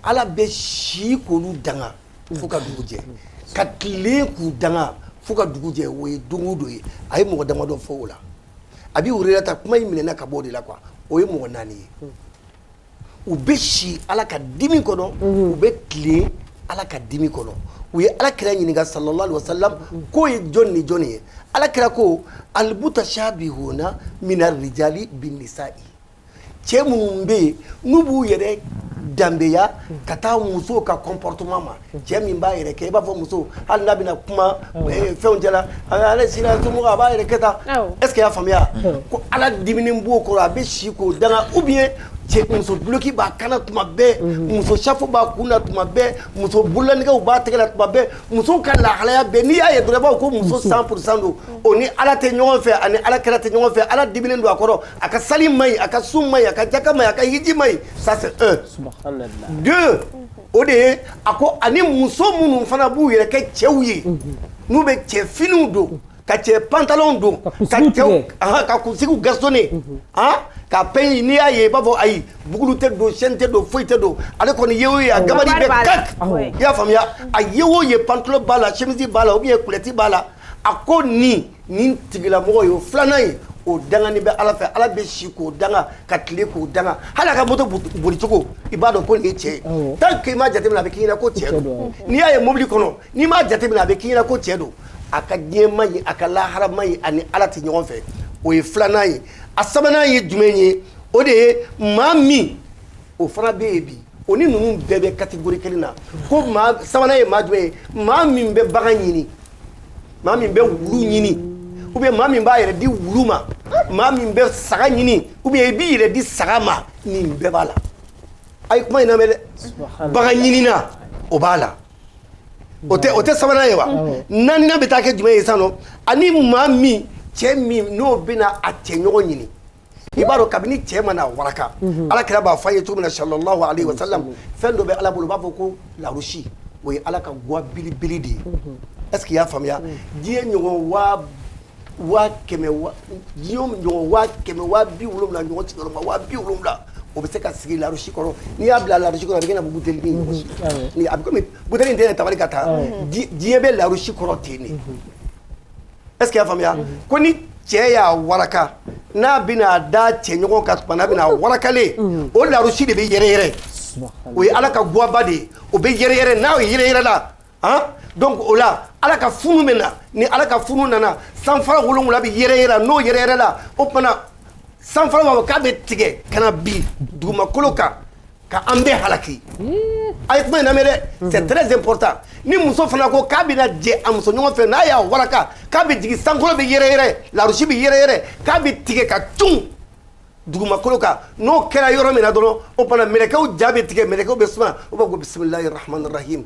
ala bɛ si k'olu danga fo ka dugu jɛ ka tile k'u danga fo ka dugu jɛ o ye don o don ye a ye mɔgɔ damadɔ fɔ o la abi hurayrata kuma in minɛna ka bɔ o de la quoi o ye mɔgɔ naani ye u bɛ si ala ka dimi kɔnɔ u bɛ tilen ala ka dimi kɔnɔ u ye ala kira ɲininka sallallahu alaihi wa sallam k'o ye jɔn ni jɔn ye ala kira ko almutashabihuna mina rijali bi nisa'i cɛ minnu bɛ yen n'u b'u yɛrɛ danbeya ka taa muso ka comportement ma cɛ min b'a yɛrɛ kɛ i b'a fɔ muso hali n'a bɛna kuma eh, fɛnw cɛla ale sira a b'a yɛrɛ kɛ tan est ce que i y'a faamuya ko ala diminen b'o kɔrɔ a bɛ si k'o danga ou bien cɛ muso duloki b'a kan na tuma bɛɛ mhm. muso safo b'a kun na tuma bɛɛ muso bololanɛgɛw b'a tɛgɛ la tuma bɛɛ musow ka lahalaya bɛɛ n'i y'a ye dɔrɔn i b'a fɔ ko muso 100 pour cent don o ni ala tɛ ɲɔgɔn fɛ ani ala kira tɛ ɲɔgɔn fɛ ala diminen don a kɔrɔ a ka sali man ɲi a ka sun man ɲi a ka jaka man ɲi a ka hiji man ɲi ça c'est un Subahanallahi. deux o de ye a ko ani muso minnu fana b'u yɛrɛ kɛ cɛw ye n'u bɛ cɛ finiw don ka cɛ pantalon don ka kunsigiw cɛw tigɛ. ahan, ka kunsigiw gasonne han ka pɛɲɛ n'i y'a ye i b'a fɔ ayi boucle tɛ don chaîne tɛ don foyi tɛ don ale kɔni ye o ye a gabari bɛ kak Awɔ. i y'a faamuya a ye o ye pantalon b'a la chemise b'a la ou bien kulɛti b'a la a ko nin Nin tigilamɔgɔ ye o filanan ye o danganen bɛ ala fɛ ala bɛ si k'o danga ka tile k'o danga hali a ka moto bolicogo i b'a dɔn ko nin ye cɛ ye tant que i m'a jateminɛ a bɛ k'i ɲɛna ko cɛ don n'i y'a ye mobili kɔnɔ n'i m'a jateminɛ a bɛ k'i ɲɛna ko cɛ don a ka diɲɛ man ɲi a ka lahara man ɲi ani ala tɛ ɲɔgɔn fɛ o ye filanan ye a sabanan ye jumɛn ye o de ye maa min o fana bɛ yen bi o ni ninnu bɛɛ bɛ catégorie kelen na ko maa sabanan ye maa jumɛn ye maa min bɛ bagan ɲini maa min bɛ wulu ɲini ou bien maa min b'a yɛrɛ di wulu ma maa min bɛ saga ɲini ou bien i b'i yɛrɛ di saga ma nin bɛɛ b'a la a ye kuma in lamɛn dɛ bagan ɲinina o b'a la o tɛ o tɛ sabanan ye wa naaninan bɛ taa kɛ jumɛn ye sisan nɔ ani maa min cɛ min n'o bɛna a cɛ ɲɔgɔn ɲini i b'a dɔn kabini cɛ mana waraka ala kira b'a f'an ye cogo min na sallallahu alaihi wa sallam fɛn dɔ bɛ ala bolo u b'a fɔ ko larusi o ye ala ka gwa belebele de ye est ce que i y'a faamuya diɲɛ ɲɔgɔn waa waa kɛmɛ wa diɲɛ ɲɔgɔn waa kɛmɛ waa bi wolonwula ɲɔgɔn sigiyɔrɔma waa bi wolonwula o bɛ se ka sigi larusi kɔrɔ n'i y'a bila larusi kɔrɔ a bɛ kɛ na buteli ni ɲɔgɔn si a bɛ komi buteli in tɛ yɛrɛ tabali kan tan diɲɛ bɛ larusi kɔrɔ ten de Est ce que i y'a faamuya, unhun, ko ni cɛ y'a waraka n'a bɛna da cɛɲɔgɔn kan tuma min na a bɛna warakalen, unhun, o larusi de bɛ yɛrɛyɛrɛ, subahaana, o ye Ala ka gwaba de ye, o bɛ yɛrɛyɛrɛ n'a yɛrɛyɛrɛla han donc o la Ala ka funu bɛ na ni Ala ka funu nana sanfara wolonwula bɛ yɛrɛyɛrɛ n'o yɛrɛyɛrɛla o tuma na sanfara b'a fɔ k'a bɛ tigɛ ka na bin dugumakolo kan Ka an bɛɛ halaki a ye kuma in lamɛn dɛ c'est très important ni muso fana ko k'a bɛna jɛ a muso ɲɔgɔn fɛ n'a y'a waraka k'a bɛ jigin sankolo bɛ yɛrɛyɛrɛ larusi bɛ yɛrɛyɛrɛ k'a bɛ tigɛ ka cun dugumakolo kan n'o kɛra yɔrɔ min na dɔrɔn o bana mɛlɛkɛw ja bɛ tigɛ mɛlɛkɛw bɛ suma u b'a fɔ bisimilahi rahmani rahim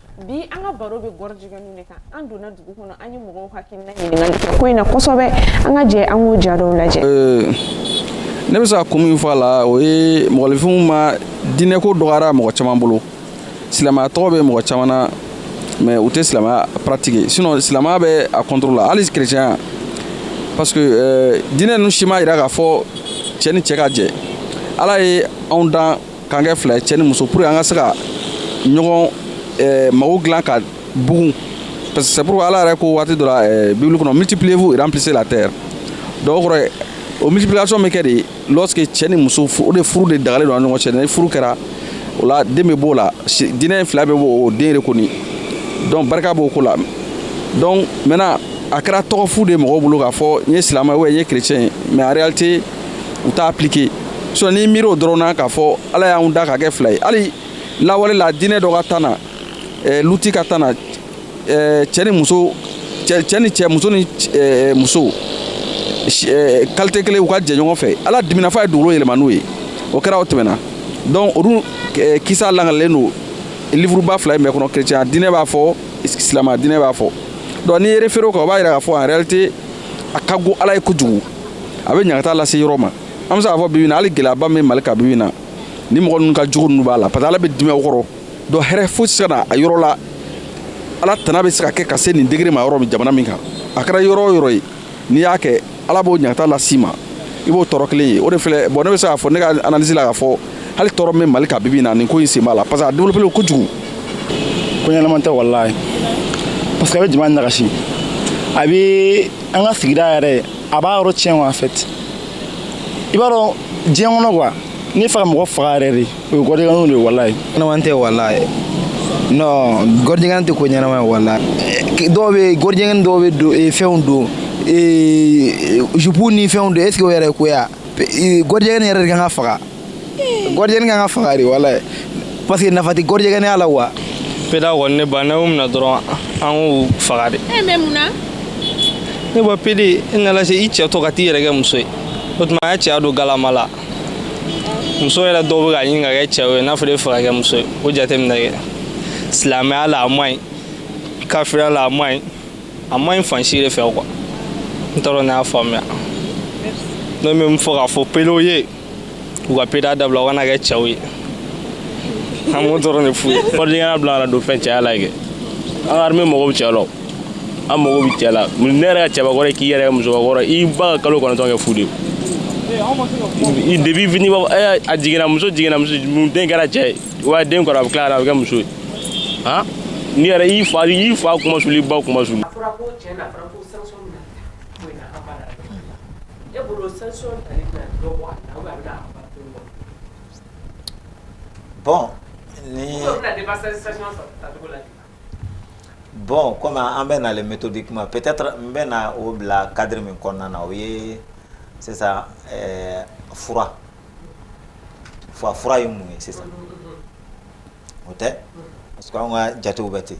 bi an ka baro bɛ gɔrjigɛnw de kan an donna dugu kɔnɔ an ye mɔgɔw hakilina ɲininkali kɛ ko in na kosɛbɛ an ka jɛ an k'o ja dɔw lajɛ ne bɛ se ka kun min fɔ a la o ye mɔgɔninfinw ma diinɛko dɔgɔyara mɔgɔ caman bolo silamɛya tɔgɔ bɛ mɔgɔ caman na mais u tɛ silamɛya pratiquer sinon silamɛya bɛ a contre la hali kerecɛnya parce que diinɛ ninnu si ma yira k'a fɔ cɛ ni cɛ ka jɛ ala ye anw dan k'an kɛ fila ye cɛ ni muso pour que an ka se ka ɲɔgɔn eh, mago dilan ka bugun parce que c'est pourquoi ala yɛrɛ ko waati dɔ la eh, bibili kɔnɔ multipliez-vous et remplissez la terre donc o kɔrɔ ye o multiplication bɛ kɛ de lorsque cɛ ni muso fu- o de furu de dagalen don a ni ɲɔgɔn cɛ ni furu kɛra o la den bɛ b'o la si- diinɛ in fila bɛɛ b'o o den de kɔni donc barika b'o ko la donc maintenant a kɛra tɔgɔ fu de ye mɔgɔw bolo k'a fɔ n ye silamɛ ou bien n ye chrétien ye mais en réalité u t'a appliquer sinon n'i miiri o dɔrɔn na k'a fɔ ala y'anw da ka kɛ fila ye hali lawale la diinɛ dɔ ka temps na eh, luti ka temps na eh, cɛ ni muso cɛ ni cɛ muso ni eh, muso qualité kelen u ka jɛ ɲɔgɔn fɛ ala dimina f'a ye dugukolo yɛlɛma n'u ye o kɛra o tɛmɛna donc olu kisa lakalilen don livuruba fila in bɛɛ kɔnɔ chrétien diinɛ b'a fɔ silamaya diinɛ b'a fɔ donc n'i y'i référé o kan o b'a yira k'a fɔ en réalité a ka go ala ye kojugu a bɛ ɲagata lase yɔrɔ ma an bɛ se k'a fɔ bibi in na hali gɛlɛyaba min bɛ mali kan bibi in na ni mɔgɔ ninnu ka jugu ninnu b'a la parce que ala bɛ dimi u kɔrɔ donc hɛrɛ foyi tɛ se ka na a yɔrɔ la ala tana bɛ se ka kɛ ka se nin degré ma yɔrɔ min jamana min kan a kɛra yɔrɔ o yɔrɔ ye n'i y'a kɛ ala b'o ɲagata las'i ma i b'o tɔɔrɔ kelen ye o de filɛ bon ne bɛ se k'a fɔ ne ka analyse la k'a fɔ hali tɔɔrɔ min bɛ mali kan bibi in na nin ko in sen b'a la parce que a développé le kojugu ko ɲɛnama tɛ walayi parce que a bɛ jama nagasi a bɛ an ka sigida yɛrɛ a b'a yɔrɔ tiɲɛ wa en fait i b'a dɔn diɲɛ kɔnɔ quoi n'i fɛ ka mɔgɔ faga yɛrɛ de o ye gɔrjigɛnw de ye walayi ɲɛnama tɛ walayi non gɔrjigɛn tɛ ko ɲɛnama ye walayi dɔw bɛ gɔrjigɛn dɔw bɛ don eh, fɛnw don eh, jupu ni fɛnw don est ce que o yɛrɛ ye ko ye a gɔrjigɛn yɛrɛ de kan ka faga gɔrjigɛn ka kan ka faga de walayi parce que nafa tɛ gɔrjigɛnya la wa pede kɔni ne ba n'aw minɛ dɔrɔn an k'u faga de eh, ne ba pede i nana se i cɛ to ka t'i yɛrɛ kɛ muso ye o tuma a y'a cɛya don galama la muso yɛrɛ dɔw bɛ ka ɲini ka kɛ cɛw ye n'a fɔra e fɛ ka kɛ muso ye o jate minɛ kɛ silamɛya la a man ɲi kafiriya la a man ɲi a man ɲi fan si de fɛ quoi n t'a dɔn ne y'a faamuya ne bɛ min fɔ k'a fɔ pedew ye u ka pedeya dabila u ka na kɛ cɛw ye an b'o dɔrɔn de f'u ye gɔrɔjigɛnya bila ka na don fɛn cɛya la kɛ an ka arime mago bɛ cɛ la an mago bɛ cɛ la ne yɛrɛ ka cɛbakɔrɔ k'i yɛrɛ kɛ musokɔrɔ i ba ka kalo kɔnɔntɔn kɛ fu de ye depuis fini b'a fɔ a jiginna muso jiginna muso den kɛra cɛ ye wa den kɔrɔ a bɛ tila ka na a bɛ kɛ muso ye han n'i yɛrɛ i fa i fa kunmasuli i ba kunmasuli Bon bon comme an bɛ na méthodiquement peut-être n bɛ na o bila cadre min kɔnɔna na o ye sisan fura fa fura ye mun ye sisan o tɛ parce que an ka jatew bɛ ten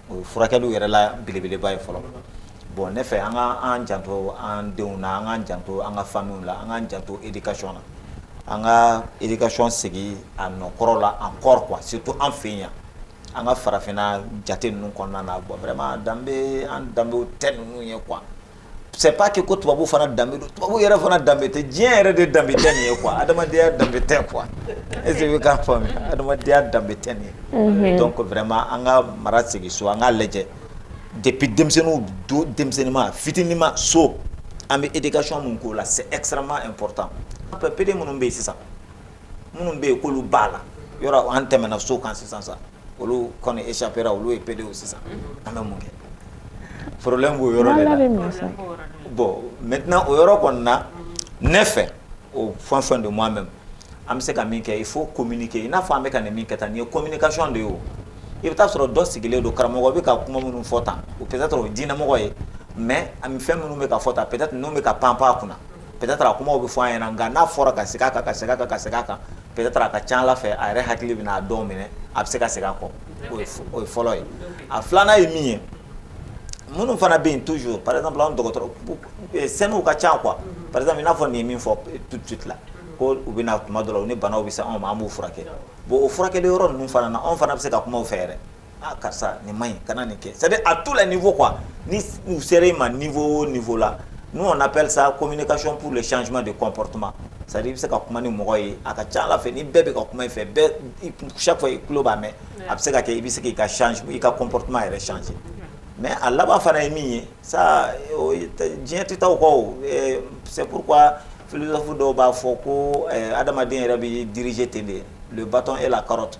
o ye furakɛli yɛrɛ la belebeleba ye fɔlɔ bon ne fɛ an ka an janto an denw na an k'an janto an ka familles la an k'an janto éducation na an ka éducation segin a nɔ kɔrɔ la encore quoi surtout an fɛ yan an ka farafinna jate ninnu kɔnɔna na bon vraiment danbe an danbew tɛ ninnu ye quoi c'est pas que ko tubabu fana danbe don tubabu yɛrɛ fana danbe tɛ diɲɛ yɛrɛ de danbe tɛ nin ye quoi adamadenya danbe tɛ quoi e bɛ k'a faamu adamadenya danbe tɛ nin ye donc vraiment an ka mara segin so an k'a lajɛ depuis denmisɛnnin don denmisɛnninma fitininma so an bɛ éducation min k'o la c'est extrêmement important an bɛɛ pede minnu bɛ yen sisan minnu bɛ yen k'olu b'a la yɔrɔ an tɛmɛna so kan sisan sa olu kɔni échappera olu ye pedew ye sisan an bɛ mun kɛ problème b'o yɔrɔ de la, problème b'o yɔrɔ de la, bon maintenant o yɔrɔ kɔni na ne fɛ au fin fond de moi-même an bɛ se ka min kɛ il faut communiquer i n'a fɔ an bɛ ka nin min kɛ tan nin ye communication de ye o i bɛ taa sɔrɔ dɔ sigilen don karamɔgɔ bɛ ka kuma minnu fɔ tan o peut être o ye diinɛmɔgɔ ye mais a bɛ fɛn minnu bɛ ka fɔ tan peut être ninnu bɛ ka pan pan a kunna peut être a kumaw bɛ fɔ an ɲɛna nka n'a fɔra ka segin a kan ka segin a kan ka segin a kan peut-être a ka ca ala fɛ a yɛrɛ hakili bɛna a dɔw minɛ a bɛ se ka segin a kɔ o ye fɔlɔ ye a filanan ye min ye minnu fana bɛ yen toujours par exemple an dɔgɔtɔrɔ sɛnɛni'u ka ca quoi par exemple i n'a fɔ ne ye min fɔ tout de suite là ko u bɛ na tuma dɔ la u ni banaw bɛ se anw ma an b'u furakɛ bon o furakɛli yɔrɔ ninnu fana na anw fana bɛ se ka kuma u fɛ yɛrɛ aa karisa nin ma ɲi kana nin kɛ c'est à dire à tous les niveaux quoi ni u sera i ma niveau o niveau la nous on appelle ça communication pour le changement de comportement c'est à dire i bɛ se ka kuma ni mɔgɔ ye a ka ca Ala fɛ ni bɛɛ bɛ ka kuma i fɛ bɛɛ i chaque fois i tulo b'a mɛn a bɛ se ka kɛ i bɛ se k'i ka change i ka comportement yɛrɛ changer mais a laban fana ye min ye ça o ye diɲɛ tɛ taa o kɔ o eh, c'est pourquoi philosophe dɔw b'a fɔ ko eh, adamaden yɛrɛ bɛ diriger ten de le bâton et la carotte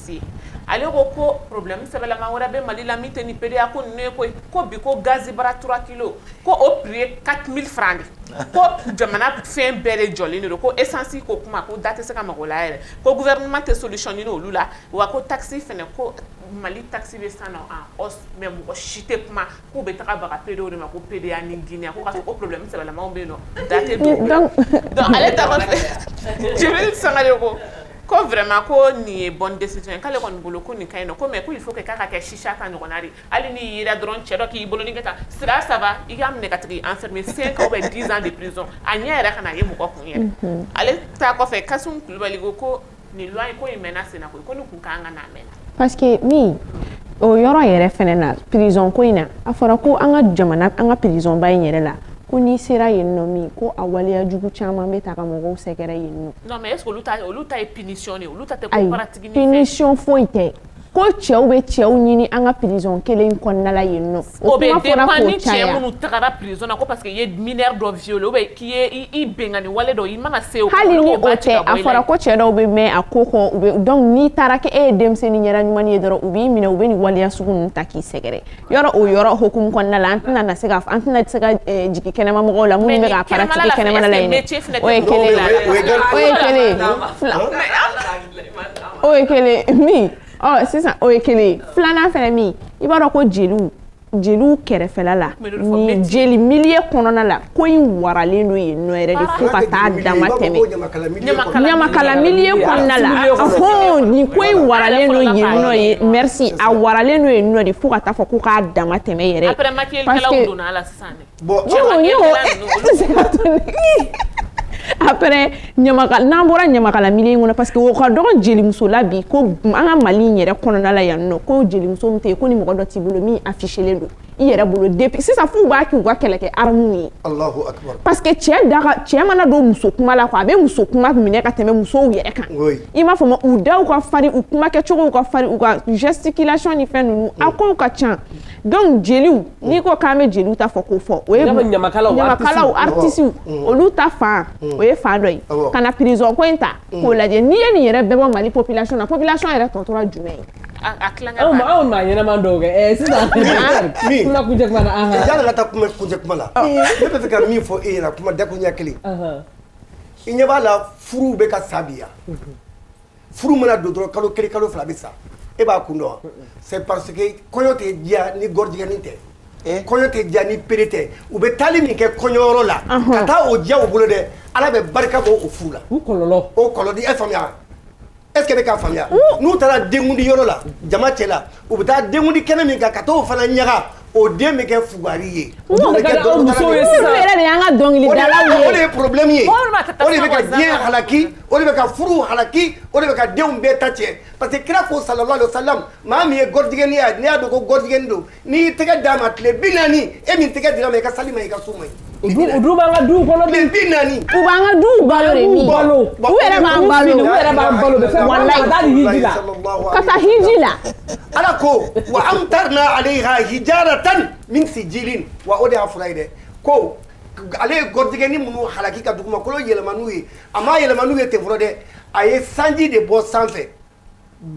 ale ko ko problème sɛbɛlama wɛrɛ bɛ mali la min tɛ nin pédéya ko ninnu ko ye ko bi ko gazibara trois kilos ko o prix ye quatre mille francs ye ko jamana fɛn bɛɛ de jɔlen don ko esansi ko kuma ko da tɛ se ka maga o la yɛrɛ ko gouvernement tɛ solution ɲini olu la wa ko takisi fɛnɛ ko mali takisi bɛɛ sont en hausse mais mɔgɔ si tɛ kuma K'u bɛ taga baga pedo de ma ko pereya ni jinɛ ko o pbilɛ sɛbɛnbɛ lamɔ bɛ yen nɔ da ale sanga ko ko vma ko nin ye bɔn dɛsɛsi ye k'ale kɔni bolo ko nin ka ɲi ko mɛ k' fɔ k'a ka kɛ si ka ɲɔgɔnna de hali ni ye dɔrɔn cɛ dɔ k'i bolo kɛ taa sira saba i ka minɛ ka tigi an fɛ senkaw bɛ dizsan de pz a ɲɛ yɛrɛ ka ye mɔgɔ kun ye ale' kɔfɛ kasi kulubali ko ko Nin loi in ko in mɛnna senna koyi ko nin tun ka kan ka na a mɛnna parce que min o yɔrɔ yɛrɛ fɛnɛ na prison ko in na a fɔra ko an ka jamana an ka prison ba in yɛrɛ la ko n'i sera yen nɔ min ko a waleya jugu caman bɛ ta ka mɔgɔw sɛgɛrɛ yen nɔ non mais est ce que olu ta olu ta ye punition de ye olu ta tɛ ko pratique ni fɛn ayi punition foyi tɛ ko cɛw bɛ cɛw ɲini an ka prison kelen kɔnɔna la yen nɔ o bɛ dépend ni cɛ minnu tagara prison na ko parce que i ye mineur dɔ violer ou bien k'i ye i binkanni wale dɔ i mana se o ma hali ni o tɛ a fɔra ko cɛ dɔw bɛ mɛn a ko kɔ u bɛ donc n'i taara kɛ e ye denmisɛnni ɲɛda ɲuman ye dɔrɔn u b'i minɛ u bɛ nin waleya sugu ninnu ta k'i sɛgɛrɛ yɔrɔ o yɔrɔ hukumu kɔnɔna la an tɛna na se ka an tɛna se ka jigin kɛnɛma mɔgɔw la minnu bɛ k'a pratiquer kɛnɛmana la yen o ye kelen ye o ye kelen ye o ye kelen min ɔ sisan o ye kelen filanan fɛnɛ min i b'a dɔn ko jeliw jeliw kɛrɛfɛla la ni jeli milieu kɔnɔna la ko in waralen don yen nɔ yɛrɛ de fo ka taa dama tɛmɛ ɲamakala milieu kɔnɔna la hɔn nin ko in waralen don yen nɔ ye merci a waralen don yen nɔ de fo ka taa fɔ ko k'a dama tɛmɛ yɛrɛ parce que après n'an bɔra ɲamakala milieu in kɔnɔ parce que o ka dɔgɔ jelimuso la bi ko an ka Mali in yɛrɛ kɔnɔna la yan nɔ ko jelimuso min tɛ yen ko ni mɔgɔ dɔ t'i bolo min affichelen don i yɛrɛ bolo depuis sisan f'u b'a k'u ka kɛlɛkɛ armes ye Alahu akibaru parce que cɛ da ka cɛ mana don muso kuma la quoi a bɛ muso kuma minɛ ka tɛmɛ musow yɛrɛ kan oui i m'a faamu u daw ka farin u kuma kɛcogow ka farin u ka gesticulation ni fɛn ninnu a kow ka ca donc jeliw n'i ko k'an bɛ jeliw ta fɔ k'o fɔ o ye ɲamakalaw artisiw olu ta fan o ye fan dɔ ye ka na prison ko in ta k'o lajɛ n'i ye nin yɛrɛ bɛɛ bɔ mali population na population yɛrɛ tɔ tora jumɛn ye a tilankɛ anw anw maa ɲɛnama dɔw kɛ ɛɛ sisan kuma kuncɛ kuma na an ka yanni ka taa kuma kuncɛ kuma la ne bɛ fɛ ka min fɔ e ɲɛna kuma dakuruɲɛ kelen i ɲɛ b'a la furuw bɛ ka sa bi yan furu mana don dɔrɔn kalo kelen kalo fila bɛ sa e b'a kun dɔn c'est parce que kɔɲɔ tɛ diya ni gɔrijigɛni tɛ eh? kɔɲɔ tɛ diya ni pédé tɛ u bɛ taali min kɛ kɔɲɔyɔrɔ la ka taa o diya u bolo dɛ ala bɛ barika bɔ o furu la o kɔlɔlɔ o kɔlɔlɔ e faamuya est ce que e bɛ k'a faamuya n'u taara denkundi yɔrɔ la jama cɛla u bɛ taa denkundi kɛnɛ min kan ka t'o fana ɲaga o den bɛ kɛ fugari ye o den bɛ kɛ dɔnkilidala ye olu yɛrɛ de y'an ka dɔnkilidalaw ye o de ye problème ye o de bɛ ka diɲɛ halaki o de bɛ ka furuw halaki o de bɛ ka denw bɛɛ ta cɛn parce que kira ko sallallahu alaihi wasallam maa min ye gɔrijigɛni ye n'i y'a dɔn ko gɔrijigɛni don n'i y'i tɛgɛ d'a ma tile bi naani e min tɛgɛ dira a ma i ka sali man ɲi i ka sun man ɲi U dun u dun b'an ka duw kɔnɔ bi, tile bi naani, u b'an ka duw balo de, u balo, u yɛrɛ b'an balo, u yɛrɛ b'an balo, walayi, ka taa ni hiji la, ka taa hiji la, Ala ko wa amtarna aleyha hijaratan min sijilin wa o de y'a fura ye dɛ, ko ale ye gɔrijigɛni minnu halaki ka dugumakolo yɛlɛma n'u ye, a m'a yɛlɛma n'u ye ten fɔlɔ dɛ, a ye sanji de bɔ sanfɛ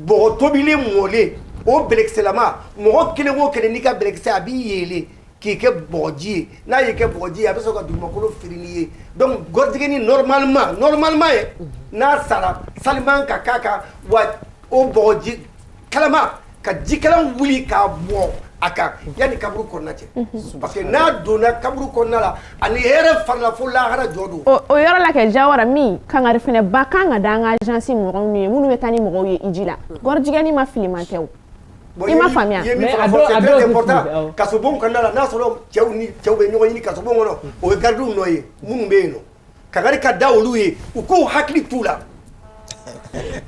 bɔgɔ tobilen mɔlen o bɛlɛkisɛlama mɔgɔ kelen o kelen n'i ka bɛlɛkisɛ a b'i yeele k'i kɛ bɔgɔji ye n'a y'i kɛ bɔgɔji ye a bɛ sɔrɔ ka dugumakolo firi n'i ye donc gɔrijigɛni normalement normalement ye n'a sara sali man ka k'a kan wa o bɔgɔji kalaman ka jikalan wuli k'a bɔn a kan yanni kaburu kɔnɔna cɛ parce que n'a donna kaburu kɔnɔna la a ni hɛrɛ farala fo lahara jɔ don o yɔrɔ la kɛ Jawara min kangari fɛnɛ b'a kan ka da an ka agence mɔgɔw nu ye minnu bɛ taa ni mɔgɔw ye hiji la gɔrijigɛni maa filiman tɛ o i ma faamuya i ye min fɔ ka fɔ c'est très important kasobonw kɔnɔna la n'a sɔrɔ cɛw ni cɛw bɛ ɲɔgɔn ɲini kasobon kɔnɔ o ye gardiw nɔ ye minnu bɛ yen nɔ kangari ka da olu ye u k'u hakili t'u la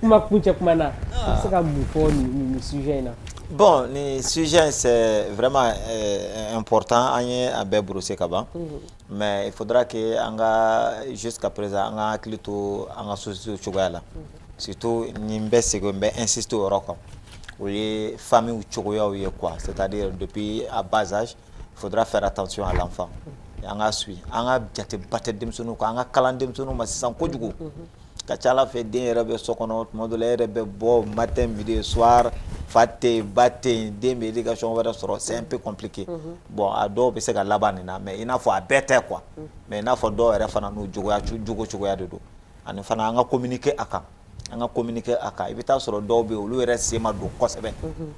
kuma kuncɛ kuma na i bɛ se ka mun fɔ nin sujet in na bon nin sujet in c'est vraiment euh, important an ye a bɛɛ brosser ka ban mhm. mais il faudra que an ka jusqu'à présent an ka hakili to an ka société cogoya la mhm. surtout ni n bɛ segin n bɛ insister o yɔrɔ kan o ye familles cogoyaw ye quoi c'est-à-dire depuis à bas âge faudra faire attention à l'enfant an ka suivi an ka jateba tɛ denmisɛnninw kan an ka kalan denmisɛnninw ma sisan kojugu ka c'a la fɛ den yɛrɛ bɛ so kɔnɔ tuma dɔ la e yɛrɛ bɛ bɔ matin midi soir fa tɛ yen ba tɛ yen den bɛ éducation wɛrɛ sɔrɔ c'est un peu compliqué bon a dɔw bɛ se ka laban nin na mais i n'a fɔ a bɛɛ tɛ quoi mais i n'a fɔ dɔw yɛrɛ fana n'u jogoya cogo cogoya de don ani fana an ka communiquer a kan an ka communiquer a kan i bɛ taa sɔrɔ dɔw bɛ olu yɛrɛ sen ma don kosɛbɛ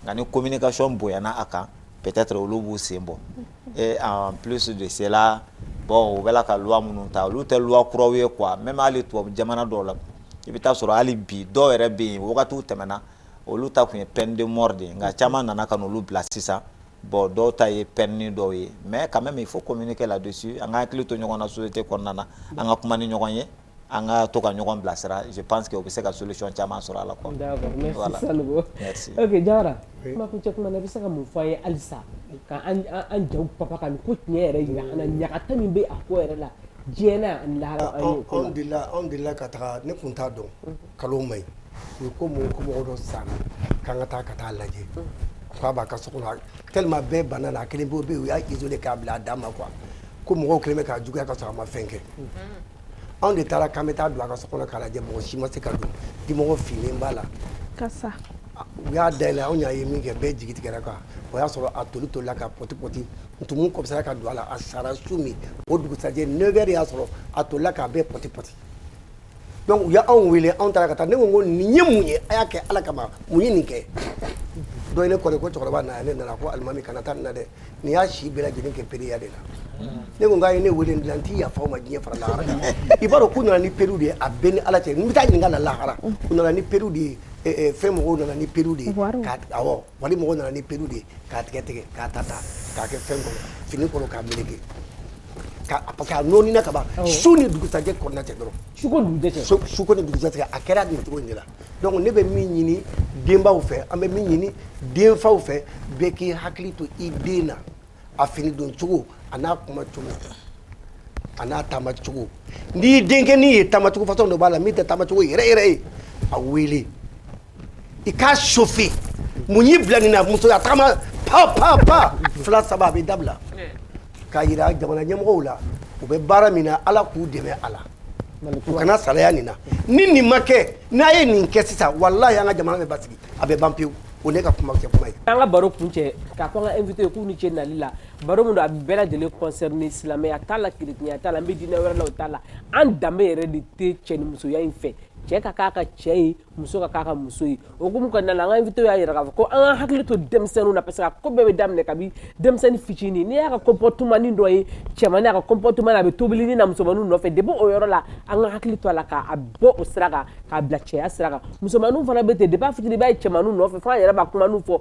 nka ni communication bonyana a kan peut-être olu b'u sen bɔ et en plus de cela bon u bɛ ka loi minnu ta olu tɛ loi kuraw ye quoi même à l'étranger jamana dɔw la i bɛ taa sɔrɔ hali bi dɔw yɛrɛ bɛ yen wagatiw tɛmɛna olu ta tun ye peine de mort ye nka caman nana ka olu bila sisan bon dɔw ta ye peine dɔw ye mais quand même il faut communiquer là-dessus an ka hakili to ɲɔgɔn na société kɔnɔna na an ka kuma ni ɲɔgɔn ye an ka to ka ɲɔgɔn bilasira je pense que o bɛ se ka solution caman sɔrɔ a la quoi d'accord merci voilà. Sanogo merci ok Jawara oui. kuma kuncɛ kuma na i bɛ se ka mun fɔ an ye halisa ka an an jaw papa ka nin ko tiɲɛ yɛrɛ jira an na ɲangata min bɛ a ko yɛrɛ la diɲɛ na ani lahara an y'o ko la anw delila anw delila ka taga ne kun t'a dɔn nkalon man ɲi u ye ko mɔgɔ ko mɔgɔ dɔ sanna k'an ka taa ka taa lajɛ k'a b'a ka so kɔnɔ tellement bɛɛ banna a la a kelen bɛ yen u y'a isolé k'a bila a dan ma quoi ko mɔgɔw kɛlen bɛ k'a juguya ka sɔrɔ a ma fɛn kɛ anw de taara k'an bɛ taa don a ka so kɔnɔ k'a lajɛ mɔgɔ si ma se ka don dimɔgɔ finnen b'a la kasa u y'a dayɛlɛ anw y'a ye min kɛ bɛɛ jigi tigɛra quoi o y'a sɔrɔ a toli tolila ka pɔti pɔti ntumu kɔmansera ka don a la a sara su min o dugusajɛ neuf heures y'a sɔrɔ a tolila k'a bɛɛ pɔti pɔti donc u y'anw wele anw taara ka taa ne ko ko nin ye mun ye a y'a kɛ ala kama mun ye nin kɛ dɔ ye ne kɔni ko cɛkɔrɔba na ne nana ko alimami kana taa nin na dɛ Nin y'a si bɛɛ lajɛlen kɛ pedeya de la ne ko ye ne weele de la n t'i yafa ma diɲɛ fara lahara kan i b'a dɔn k'u nana ni perew de ye a bɛ n ni ala cɛ n bɛ taa ɲininka la lahara u nana ni perew de ye e, e, fɛn mɔgɔw nana ni perew de ye wali mɔgɔw nana ni perew de ye k'a tigɛ tigɛ k'a ta ta k'a kɛ fɛn kɔnɔ fini kɔnɔ k'a meleke parce que a nɔɔnina ka ban su ni dugusajɛ kɔnɔna cɛ dɔrɔn suko ni dugusajɛ a kɛra nin cogo in de la donc ne bɛ min ɲini denbaw fɛ an bɛ min ɲini denfaw fɛ bɛɛ k'i hakili to i den na a fini don cogo a n'a kuma cogo a n'a taama cogo n'i denkɛ n'i ye taama cogo façon dɔ b'a la min tɛ taama cogo yɛrɛ yɛrɛ ye a wele i k'a chauffer mun y'i bila nin na musoya tagama pa pa pa fila saba a bɛ dabila k'a jira jamana ɲɛmɔgɔw la u bɛ baara min na ala k'u dɛmɛ a la u kana salaya nin na ni nin ma kɛ n'a ye nin kɛ sisan walahi an ka jamana bɛ basigi a bɛ ban pewu o ne ka kuma kuncɛ kuma ye an ka baro kuncɛ k'a fɔ an ka invité ye k'u ni ce nali la baro min don a bɛ bɛɛ lajɛlen concerné silamɛya t'a la keretiyɛnya t'a la n bɛ diinɛ wɛrɛ la o t'a la an danbe yɛrɛ de tɛ cɛ ni musoya in fɛ cɛ ka k'a ka cɛ ye muso ka k'a ka muso ye o hukumu kɔnɔna la an ka invité y'a jira k'a fɔ ko an ka hakili to denmisɛnninw na parce que a ko bɛɛ bɛ daminɛ kabi denmisɛnnin fitinin n'i y'a ka comportement dɔ ye cɛmannin a ka comportement na a bɛ tobilini na musomaninw nɔfɛ depuis o yɔrɔ la an ka hakili to a la k'a bɔ o sira kan k'a bila cɛya sira kan musomaninw fana bɛ ten depuis a fitinin i b'a ye cɛmaninw nɔfɛ fo an yɛrɛ b'a kumaninw fɔ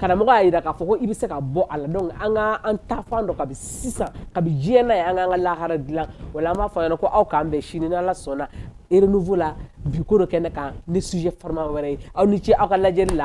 karamɔgɔ y'a yira k'a fɔ ko i bɛ se ka bɔ a la donc an ka an taafan dɔn kabi sisan kabi diɲɛ na ye an k'an ka lahara dilan voilà an b'a fɔ a ɲɛna ko aw k'an bɛn sini n'ala sɔnna renouveau la bi ko dɔ kɛnɛ kan ni sujet farima wɛrɛ ye aw ni ce aw ka lajɛli la